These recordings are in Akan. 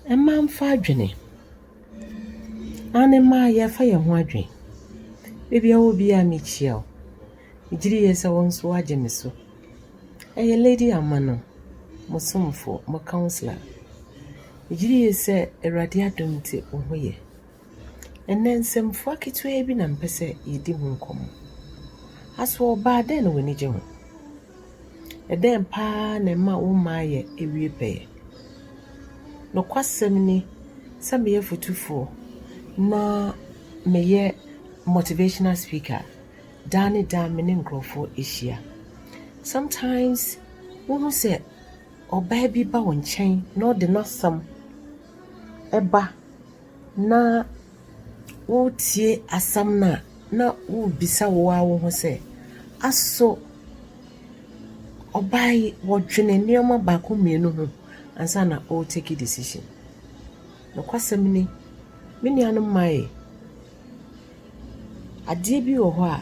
Mma mfa adwene. Aane mma yɛfa yɛn ho adwene. Baabi a wɔ biara mekyia wo. Megyedi yɛ sɛ wo nso wagye me so. Ɛyɛ Lady Amano, mo somfo, mo councillor. Megyedi yɛ sɛ Awurade adom nti wo ho yɛ. Ɛnnɛ, nsɛmfua ketewaa bi na mepɛ sɛ yedi ho nkɔmmɔ. Asoɔbaa, dɛn na w'ani gye ho? Ɛdɛn paa na ɛma wo mma yɛ awie pɛyɛ? Nokwasɛm ni sɛ meyɛ fotufoɔ na meyɛ motivational speaker daa ne daa me ne nkurɔfoɔ ahyia. Sometimes wohu sɛ ɔbaa bi ba wo nkyɛn na ɔde n'asɛm ba na woretie asɛm no a, na wobisa wo ara wo ho sɛ, Aso ɔbaa yi ɔdwene nneɛma baako mmienu ho ansa na ɔre take decision? Nokwasɛm ni, me nuanom mmaa yi, adeɛ bi wɔ hɔ a,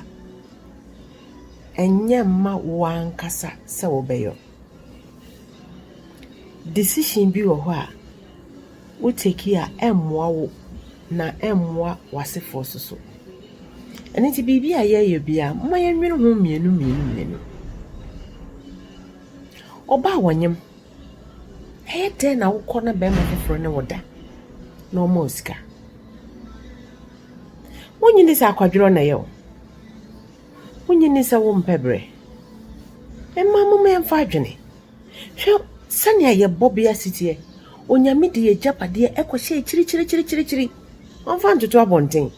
ɛnyɛ mma wo ankasa sɛ wobɛyɛ. Decision bi wɔ hɔ a, Wo take a ɛmmoa wo na ɛmmoa w'asefoɔ nso so. Ɛno nti biribi a yɛyɛ biara momma yɛnwene ho mmienu mmienu mmienu. Ɔbaa wɔnyem, ɛyɛ dɛn na wokɔ na bɛrima foforɔ ne wo da na ɔma wo sika? Wonye ni sɛ akwadworɔ na ɛyɛ o. Wonye ni sɛ wompɛ berɛ. Mmaa momma yɛmfa adwene. Hwɛ sɛnea yɛn bɔbea si teɛ! Onyame de yɛn agyapadeɛ kɔhyɛ akyiri kyiri kyiri kyiri kyiri. Wɔmfa ntoto abɔnten.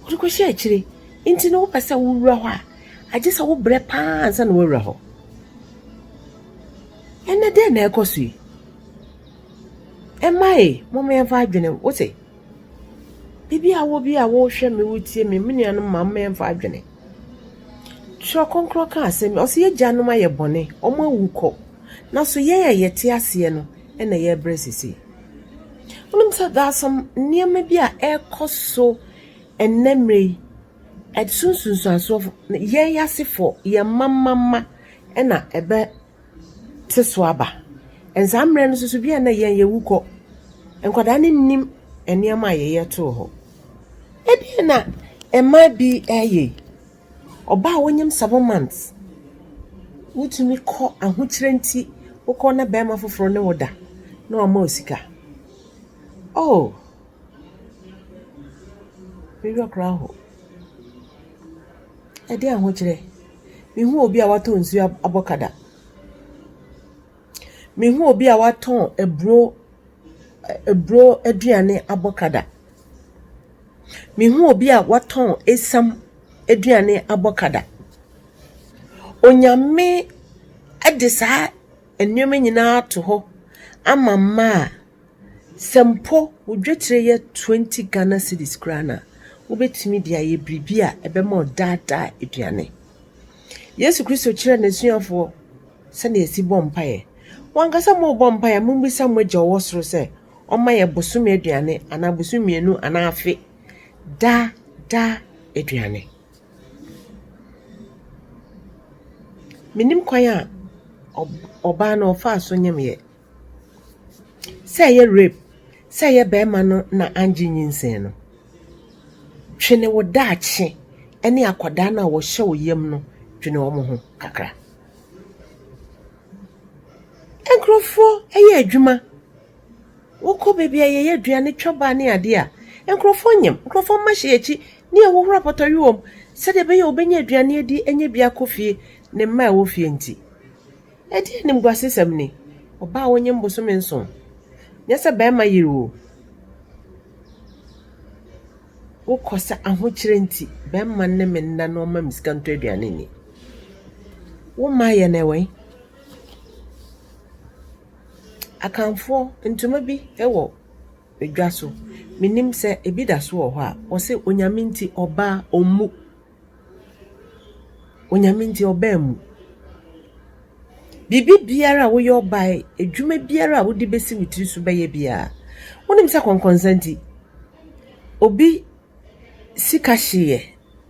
Wɔde kɔhyɛ akyiri. Nti no wopɛ sɛ wowura hɔ a, agye sɛ wobrɛ paa ansa na woawura hɔ. Ɛnɛ dɛn na ɛkɔ so yi? Ɛma e, moma yɛmfa adwene wo se, biribi a wɔ bi a wohwɛ me wotie me, me nuanom ma mma yɛmfa adwene. Twerɛ Kronkron ka asɛm, ɔse yɛ agyanom ayɛ bɔne, wɔn awu kɔ, nanso yɛn a yɛte aseɛ no na yɛbrɛ seesei. Wonim sɛ there are some nneɛma bi a ɛrekɔ so ɛnnɛ mmerɛ yi, ɛso nsunsuansoɔ fo, yɛn asefoɔ, yɛn mma mma mma na ɛbɛte so aba. And saa mmerɛ no nso so bi a na yɛn yɛwu kɔ, nkwadaa no nnim nneɛma a yɛyɛ too hɔ. Ebia na mmaa bi reyɛ yi, ɔbaa a wanyam seven months, wotumi kɔ ahokyerɛ nti wokɔ na barima foforɔ ne wo da na wama wo sika. Oh, me werɛ koraa how. Ɛdeɛn ahokyerɛ? Mehu obi a watɔ nsuo abɔ ka da. Mehu obi a watɔn aburo ɛ aburo aduane abɔkada. Mehu obi a watɔn esiam aduane abɔkada. Onyame de saa nneɛma nyinaa ato hɔ ama mmaa a Sɛ mpo wo dwetire yɛ twenty Ghana cedis koraa no a, wobɛtumi de ayɛ biribi a ɛbɛma wo daa daa aduane. Yesu Kristo kyerɛɛ n'asuafoɔ sɛdeɛ yɛsi bɔ mpaeɛ. Mo ankasa morebɔ mpaeɛ a, mommisa mo Agya a ɔwɔ soro sɛ ɔmma yɛn bosome aduane anaa bosome mmienu anaa afe daa daa aduane. Menim kwan a ɔbaa no ɔfaa so nyemeeɛ. sɛ ɛyɛ rape, sɛ ɛyɛ barima no na angye nyinsɛn no, twene wo daakye ne akwadaa no a wɔhyɛ wo yam no dwene wɔn ho kakra. Nkurɔfoɔ yɛ adwuma, wokɔ baabi a yɛyɛ aduane twa ba ne adeɛ a, nkurɔfoɔ nyem, nkurɔfoɔ mma hyɛ yɛn akyi ne yɛhohoro apɔtɔwe wɔ mu sɛdeɛ ɛbɛyɛ a wɔbɛnya aduane adi anya bi akɔ fie, ne mma a ɛwɔ fie nti. Ɛdeɛn animguasesɛm ni? Ɔbaa a ɔnyem bosome nson, nyɛ sɛ barima yere o. Wokɔ sɛ ahokyerɛ nti barima ne me nna na ɔma me sika ntɔ aduane nni. Wo mma yɛ no wɛn? Akanfoɔ ntoma bi wɔ dwa so, mennim sɛ ebi da so wɔ hɔ a, wɔse Onyame nti ɔbaa ɔmmu. Onyame nti ɔbaa mu. Biribi biara a woyɛ ɔbaa yi, adwuma biara a wode bɛsi wo tiri so bɛyɛ biara, wonim sɛ kɔnkɔnsa nti, obi sika hyeeɛ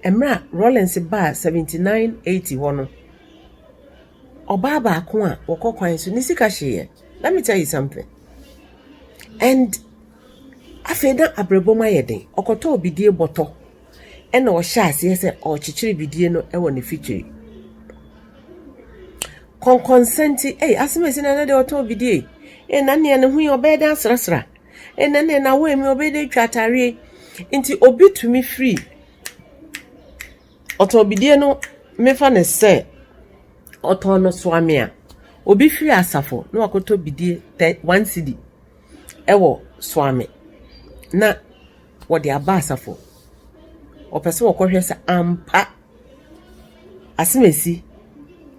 mmerɛ a Rawlings baa seventy nine, eighty hɔ no, ɔbaa baako a ɔkɔ kwan so, ne sika hyeeɛ. Let me tell you something and afei na abrabɔ mu ayɛ den, ɔkɔtɔɔ bidie bɔtɔ. Ɛnna ɔhyɛɛ aseɛ sɛ ɔrekyekyere bidie no wɔ ne fikyiri. Kɔnkɔnsa nti, ei, asɛm a ɛsi na na deɛ ɔtɔn bidie, ei, na nea ne ho yi ɔbɛyɛ dɛ asrasra, ei, na nea n'awo emi ɔbɛyɛ dɛ atwa ataareɛ. Nti obi tumi firi ɔtɔn bidie no mefa no sɛ ɔtɔn no soame a obi firi asafo na wakɔtɔ bidie tɛ one cedi ɛwɔ soame na wɔde aba asafo. Wɔpɛ sɛ wɔkɔhwɛ sɛ ampa asɛm a esi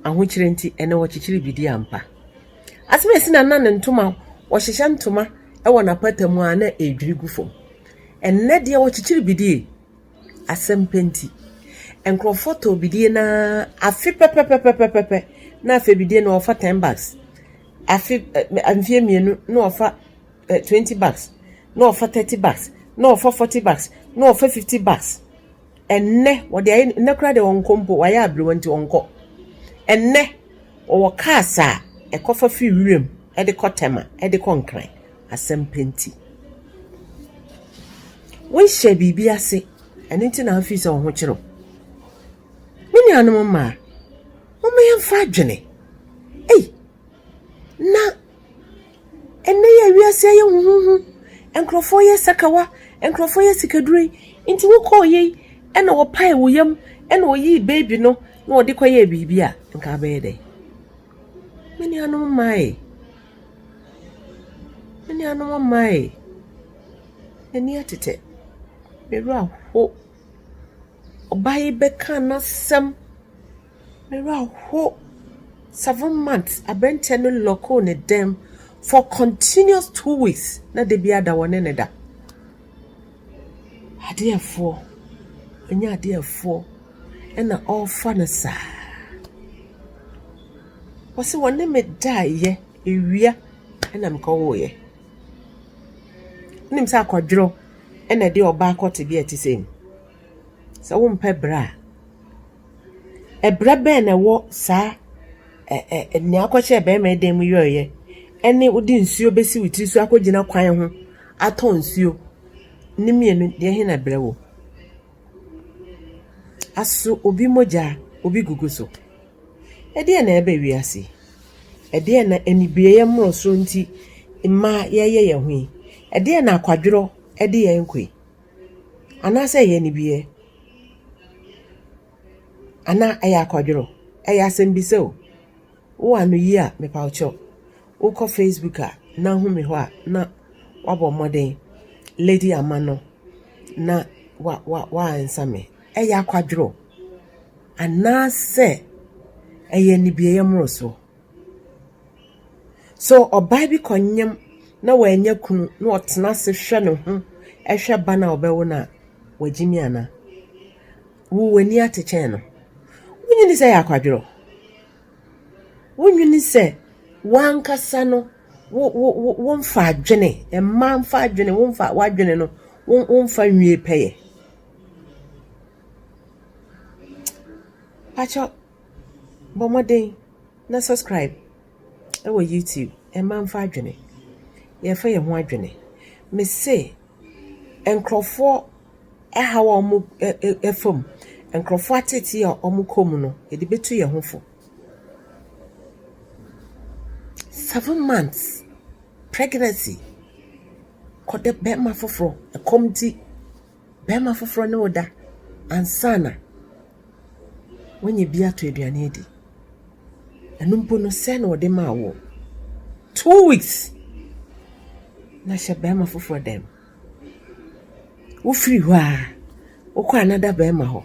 ahokyere nti ɛnɛ wɔkyekyere bi di ampa. Asɛm a esi na na ne ntoma wɔhyehyɛ ntoma wɔ n'apata mu a na ɛredwiri gu fam. Ɛnɛ deɛ wɔkyekyere bi die asɛm pɛ nti. Nkurɔfoɔ tɔ bidie na afe pɛpɛpɛpɛpɛpɛ na afei bidie na wɔfa ten bags. Afe mfeɛ mmienu na wɔfa eh, 20 bucks, na ɔfa 30 bucks, na ɔfa 40 bucks, na ɔfa 50 bucks. Ɛnnɛ, wɔde ayɛ nnɛ koraa deɛ ɔnkɔ mpo, wayɛ aberewa nti ɔnkɔ. Ɛnnɛ, ɔwɔ cars a ɛkɔfa firi wiram de kɔ Tema, de kɔ Nkran. Asɛm pɛ nti. Wonhyɛ biribi ase, ɛno nti na afei sɛ ɔho kyerɛw. Me nuanom mmaa, momma yɛmfa adwene. Ei, na Ɛnnɛ yi a wiase ayɛ huhuuhu, nkurɔfoɔ yɛ sakawa, nkurɔfoɔ yɛ sikaduro yi, nti wokɔɔ yei na wɔpaee wo yam na wɔyii baby no na wɔde kɔyɛɛ biribi a, nka wobɛyɛ dɛn? Me nuanom mmaa ei, me nuanom mmaa ei, m'ani atetɛ, me werɛ aho. Ɔbaa yi bɛkaa n'asɛm Me werɛ ahow. Seven months, aberanteɛ no lɔkoo ne dan mu for continuous two weeks na da biara da wɔne no da. Adeɛfoɔ, ɛnyɛ adeɛfoɔ ɛna ɔrefa no saa. Ɔse wɔne me daeɛ, ewia ɛna mekɔwoeɛ. Wonim sɛ akwadworɔ ɛna ɛde ɔbaa kɔ tebea a ɛte sei mu. Sɛ wompɛ bra a. Ɛbrɛ bɛn na ɛwɔ saa ɛɛ nea wokɔhyɛɛ barima dan mu yɔeɛ ne wode nsuo bɛsi wo tiri so akɔgyina kwan ho atɔ nsuo no mmienu, deɛhe na ɛbrɛ wom? Aso obi mogya a obi gugu so? Ɛdeɛn na ɛreba wiase yi? Ɛdeɛn na anibereɛ mmorosoɔ nti mmaa yɛreyɛ yɛn ho yi? Ɛdeɛn na akwadworɔ de yɛn rekɔ yi? Anaasɛ ɛyɛ anibiɛ? Anaa ɛyɛ akwadworɔ? Ɛyɛ asɛmbisa o. Wo anoyi a mepawkyɛw wokɔ facebook a na wohu me hɔ a na woabɔ mmɔden Lady Ama no na wa wa wa answer me. Ɛyɛ akwadworɔ? Anaasɛ ɛyɛ anibiɛyɛ mmorosoɔ? So ɔbaa bi kɔnyem na wannya kunu na ɔtsena ase hwɛ no ho hwɛ ba no a ɔbɛwo no a, ɔagyimi anaa? Wo w'enyi atse kyɛn no? Wonnyi ne sɛ yɛ akwadwer o. Wonnyi ne sɛ wankasa no wo wo wo wo mfa adwene, mmaa mfa adwene, wo mfa w'adwene no wo wo mfa nwie pɛyɛ. Pakyɛw Bɔ mmɔden na subscribe wɔ YouTube mma mfa adwene yɛfa yɛn ho adwene me se nkurɔfoɔ ɛhaw a wɔn ɛfa mu nkurɔfoɔ atetee a wɔn kɔ mu no yɛde bɛtu yɛn ho fo seven months pregnancy kɔdɛ bɛrima foforɔ ɛkɔm ti. Barima foforɔ ne wo da ansa na wanya bi atɔ aduane adi. Ɛno mpo no, sɛ na ɔde maa woɔ. Two weeks na hyɛ barima foforɔ dan Wofiri hɔ a, wokɔ anada barima hɔ.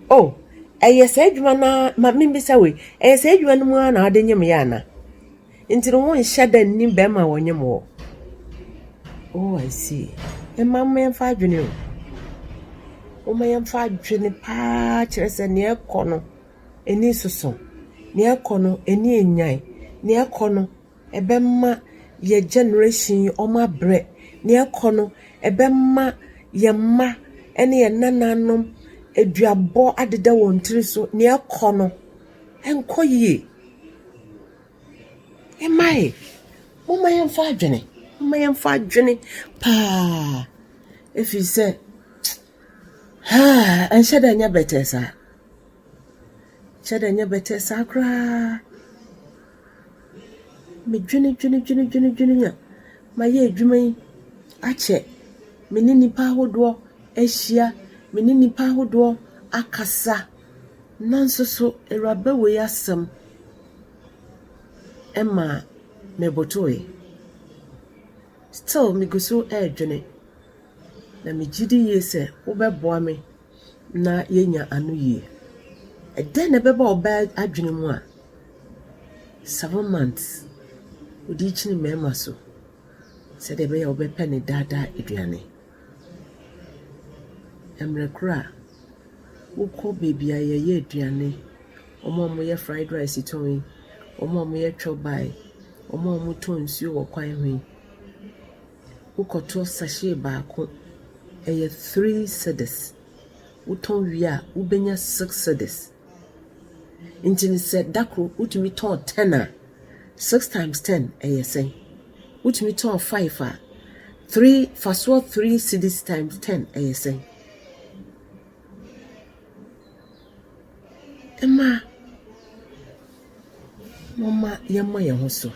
Oh, ɛyɛ saa adwuma no ara, ma memmisa wo yi, ɛyɛ saa adwuma no mu ara na wode nyem yɛ ana? Nti no wonhyɛ da nni bɛrima a ɔnyem wo? Oh, I see. Mma momma yɛmfa adwene o. Momma yɛmfa adwene paa kyerɛ sɛ nea ɛkɔ no ani soso, nea ɛkɔ no ani nnyae, nea ɛkɔ no Ɛbɛma yɛn generation yi wɔn abrɛ. Nea ɛkɔ no, ɛbɛma yɛn mma ne yɛn nananom aduabɔ adeda wɔn tiri so. Nea ɛkɔ no, ɛnkɔ yie. Mma e, momma yɛmfa adwene, momma yɛmfa adwene paa ɛfiri sɛ haa ɛnhyɛ da nyɛ bɛtɛɛ saa. Ɛnhyɛ da nyɛ bɛtɛɛ saa koraa. medwenedwenedwenedwene a mayɛ adwuma yi akyɛ, me ne nnipa ahodoɔ ahyia, me ne nnipa ahodoɔ akasa, nanso so awuraba wei asɛm ma mebotoeɛ. Still megu so ɛredwene, na megye di yie sɛ wobɛboa me na yɛanya anoyie. Ɛdɛn na ɛbɛba ɔbaa adwene mu a seven months ɔde rekyini mmarima so sɛdeɛ ɛbɛyɛ a ɔbɛpɛ ne daadaa aduane? Mmerɛ korɔ a wokɔ baabi a yɛyɛ aduane, wɔn a wɔyɛ fried rice tɔn yi, wɔn a wɔyɛ chop bar yi, wɔn a wɔtɔn nsuo wɔ kwan ho yi. Wokɔtɔ sachet baako, ɛyɛ three cedis. Wotɔ wie a, wobɛnya six cedis. Nti no sɛ da koro wotumi tɔɔ ten a, six times ten ɛyɛ sɛn? Wotumi tɔɔ five a, three, fa soɔ three cedis times ten ɛyɛ sɛn? Mmaa. Momma yɛmmɔ yɛn ho so.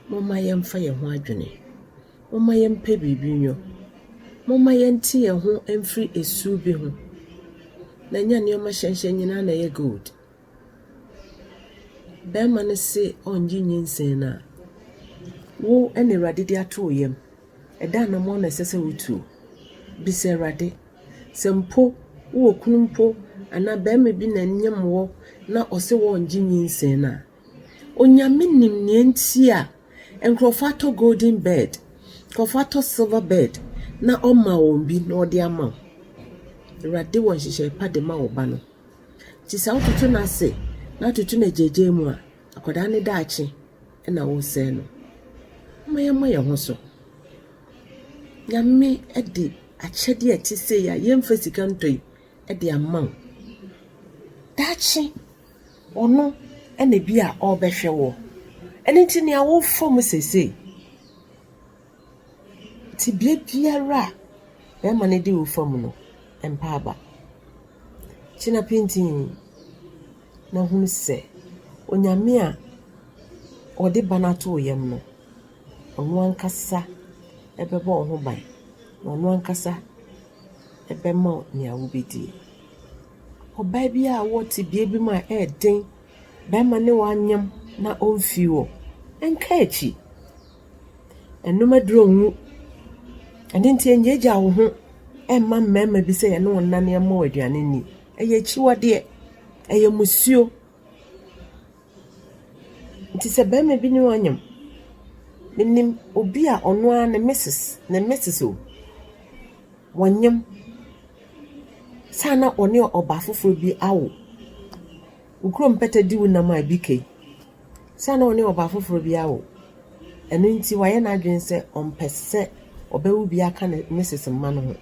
Momma yɛmfa yɛn ho adwene. Momma yɛmpɛ biribi nnwo. Momma yɛnte yɛn ho mfiri esu bi ho, na ɛnyɛ nneɛma hyɛnhyɛn nyinaa na ɛyɛ gold. Barima no se ɔnnye nyinsɛn no a, wo na Awurade de ato wo yam. Ɛdɛ anammɔn na ɛsɛ sɛ wotuo? Bisa Awurade. Sɛ mpo wo wɔ kunu mpo anaa barima bi na ɛnyem wɔ na ɔse wɔ ngye nyinsɛn no a, Onyame nim nea nti a nkorɔfoɔ atɔ golden bird, nkorɔfoɔ atɔ silver bird na ɔma wɔn bi na ɔde ama wo. Awurade wɔ nhyehyɛe pa de ma wo ba no. Nti sɛ wototo no ase na wototo no agyaagyaa mu a, akwadaa no daakye na woresɛe no. Momma yɛmmɔ yɛn ho so. Nyame de. akyɛde a ɛte sei a yɛmfa sika ntɔ yi de ama wo. Daakye ɔno na bi a ɔrebɛhwɛ wo. Ɛno nti nea worefa mu seesei, tebea biara a bɛrima no de wo fa mu no, mpa aba. Gyina pintinn na hunu sɛ Onyame a ɔde ba no ato wo yam no, Ɔno ankasa bɛbɔ wo ho ban, na ɔno ankasa bɛma wo nea wubedi. Ɔbaa bi a ɔwɔ tebea bi mu a ɛyɛ den, barima ne wanyem na omfi hɔ, nka akyi. Ɛnom aduru ngu. Ɛno nti nnyaagyaa wo ho mma mmarima bi sɛ yɛne wo nnane mmɔ wo aduane nni. Ɛyɛ akyiwadeɛ. Ɛyɛ mmusuo. Nti sɛ bɛrima bi ne wo anyem, menim obi a ɔno ara ne misis, ne misis o, wɔnyem ansa na ɔne ɔbaa foforɔ bi awo. Wo kuro mpata di wo nam a ɛbi ka yi, ansa na ɔne ɔbaa foforɔ bi awo. Ɛno nti wayɛ n'adwene sɛ ɔmpɛ sɛ ɔbɛwo bi aka ne misis mma no ho.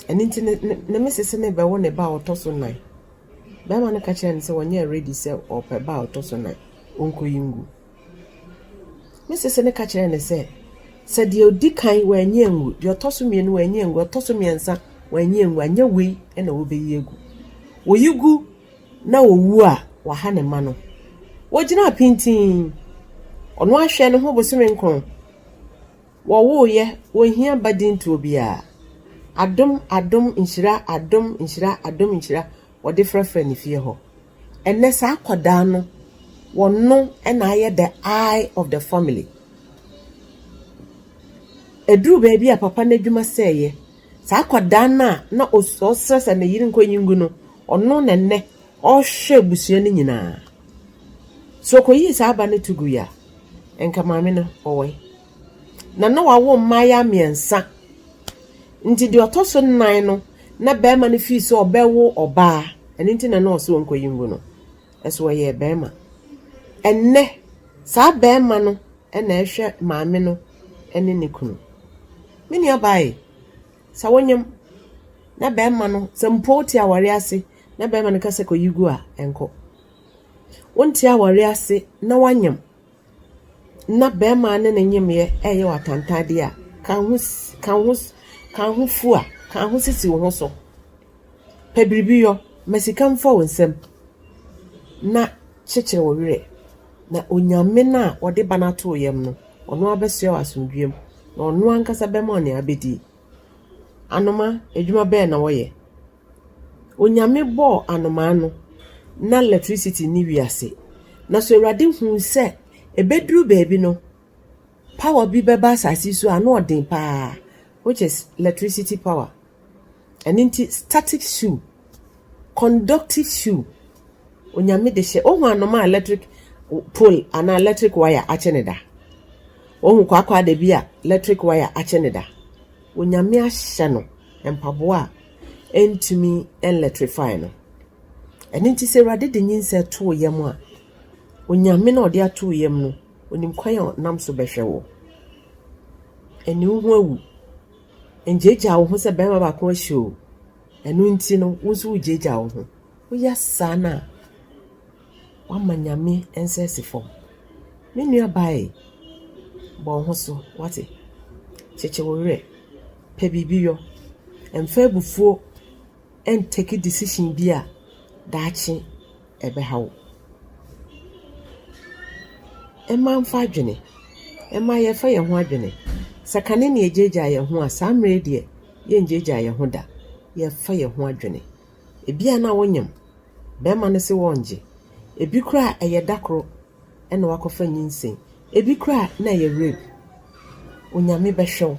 Ɛno nti ne misis no rebɛwo ne ba a ɔtɔ so nnan. Barima no ka kyerɛɛ no sɛ ɔnyɛ ready sɛ ɔrepɛ ba a ɔtɔ so nnan, ɔnkɔyi ngu. Ne sese no ka kyerɛɛ no sɛ, sɛ deɛ ɔdi kan wanyi angu, deɛ ɔtɔ so mmienu wanyi angu, ɔtɔ so mmiɛnsa wanyi angu, anyɛ wei na wɔbɛyi agu. Wɔyi gu na ɔwu a, wɔaha ne mma no. Wɔgyinaa pintinn. Ɔno ahwɛ ne ho bosome nkron. Wɔwoeɛ, wɔnhia badintoɔ biara. Adom, adom, nhyira, adom, nhyira, adom, nhyira, wɔde frɛfrɛ ne fie hɔ. Ɛnnɛ saa akwadaa no, wɔno na ayɛ the eye of the family. Ɛduruu baabi a papa no adwuma sɛeɛ. Saa akwadaa no a na ɔsrɛ sɛ ne yere nkɔyi ngu no, ɔno na ɛnnɛ, Ɔhwɛ abusua no nyinaa. Sɛ ɔkɔyii saa ba no to gui a, anka maame no ɔwɔe. Na na wawo mmaayaa mmiɛnsa. Nti deɛ ɔtɔ so nnan no, na barima no fii sɛ ɔbɛwo ɔbaa. Ɛno nti na na ɔse ɔnkɔyi ngu no. Ɛso ɔyɛɛ barima. Ɛnnɛ, saa barima no na ɛhwɛ maame no ne ne kunu. Me nuabaa e, sɛ wonyem na barima no, sɛ mpo wote awareɛ ase Na barima no ka sɛ, Kɔyi gu a ɛnkɔ. Wonte aware ase na woanyem na barima ne ne nyemyɛ ɛyɛ wo atantadeɛ a, ka ho ka ho ka ho fu a, ka ho sisi wo ho so. Pɛ biribi yɔ, ma sika mfa wo nsam na kyekyere wo werɛ. Na Onyame no a ɔde ba no ato wo yam no, ɔno ara bɛsoa wo asomdwoeɛm na ɔno ankasa bɛma wo nea wobɛdie. Anoma, adwuma bɛn na wɔyɛ? Onyame bɔɔ anomaa no na lɛtrisiti nni wiase. Na so Awurade huu sɛ ɛbɛduru baabi no, pawa bi bɛba asase yi so a na ɔden pa ara, which is lɛtrisiti pawa. Ɛno nti, statik suu, kɔndɔktif suu, Onyame de hyɛ, woahu anomaa a lɛtrik pol anaa lɛtrik waya akye no da? Woahu kwaakwaadabi a lɛtrik waya akye no da? Onyame ahyɛ no. mpaboa a ɛntumi nlɛtrifai no. Ɛno nti sɛ Awurade de nyinsɛn to wo yam a, Onyame no a ɔde ato wo yam no, onim kwan a ɔnam so bɛhwɛ wo. Ɛne wo ho awu. Ngyaagyaa wo ho sɛ bɛrima baako ahyɛ o. Ɛno nti no, wo nso wogyaagyaa wo ho. Woyɛ saa no a, Woama Nyame nsa asi fam. Me nua baa ei, bɔ wo ho so, woate? Kyekye wo werɛ, pɛ biribi yɔ. Mfa abufuo ntake decision bi a daakye ɛbɛha wo. Mma mfa adwene, mma yɛmfa yɛn ho adwene. Sɛ kane na yɛgyaagyaa yɛn ho a, saa mmerɛ yi deɛ, yɛngyaagyaa yɛn ho da. Yɛmfa yɛn ho adwene. Ebi a na wonyam. Bɛrima no se wɔngye. Ebi koraa a ɛyɛ da koro na wakɔfa nyinsɛn. Ebi koraa a na ɛyɛ rape. Onyame bɛhwɛ wo.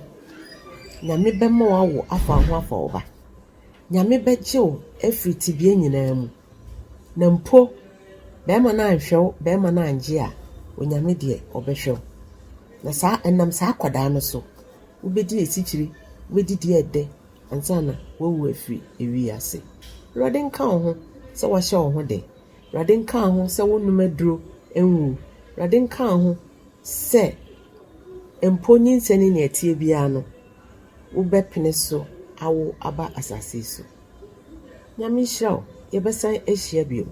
Nyame bɛma wo awo afa wo ho afa wo ba. Nyame bɛgye wo afiri tebea nyinaa mu. Na mpo bɛrima no anhwɛ wo, bɛrima no angye a, Onyame deɛ ɔbɛhwɛ wo. Na saa, ɛnam saa akwadaa no so, wobɛdi asikyire, wobɛdidi ɛdɛ, ansa na woawu afiri ewi yi ase. Awurade nka wo ho sɛ woahyɛ wo ho den. Awurade nka wo ho sɛ wonnom aduro nwu. Awurade nka wo ho sɛ mpo nyinsɛn ne nea ɛteɛ biara no, wobɛpene so awo aba asase yi so. Nyame nhyira wo. Yɛbɛsan ahyia bio.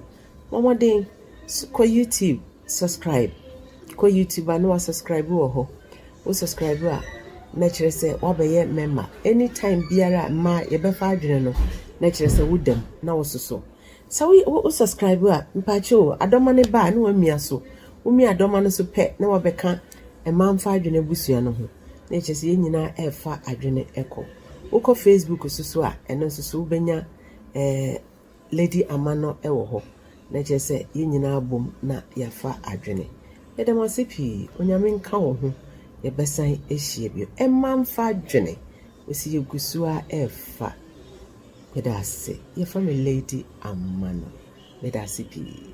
Bɔ mmɔden kɔ YouTube subscribe, kɔ YouTube a na wa subscribe wɔ hɔ. Wo subscribe a na kyerɛ sɛ wabɛyɛ member. Anytime biara a mmaa yɛbɛfa adwene no na kyerɛ sɛ wo dam na wɔsoso. Sɛ wo wo subscribe a mpaakyɛ o adɔma ne ba a na wamia so. Womia adɔma no so pɛ na wabɛka mmaa mfa adwene abusua no ho. Na kyerɛ sɛ yɛn nyinaa ɛrefa adwene ɛkɔ. Wokɔ Facebook so so a ɛno nso so wobɛnya ɛɛ. Eh, ledi ama no wɔ hɔ na kyerɛ sɛ yɛn nyinaa bom na yɛafa adwene. Yɛda mo ase pii. Onyame nka wo ho. Yɛbɛsan ahyia bio. Ɛmma mfa adwene. Wɔsi yɛgu so ara ɛrefa. Meda ase. Yɛfrɛ me Lady Amano. Meda ase pii.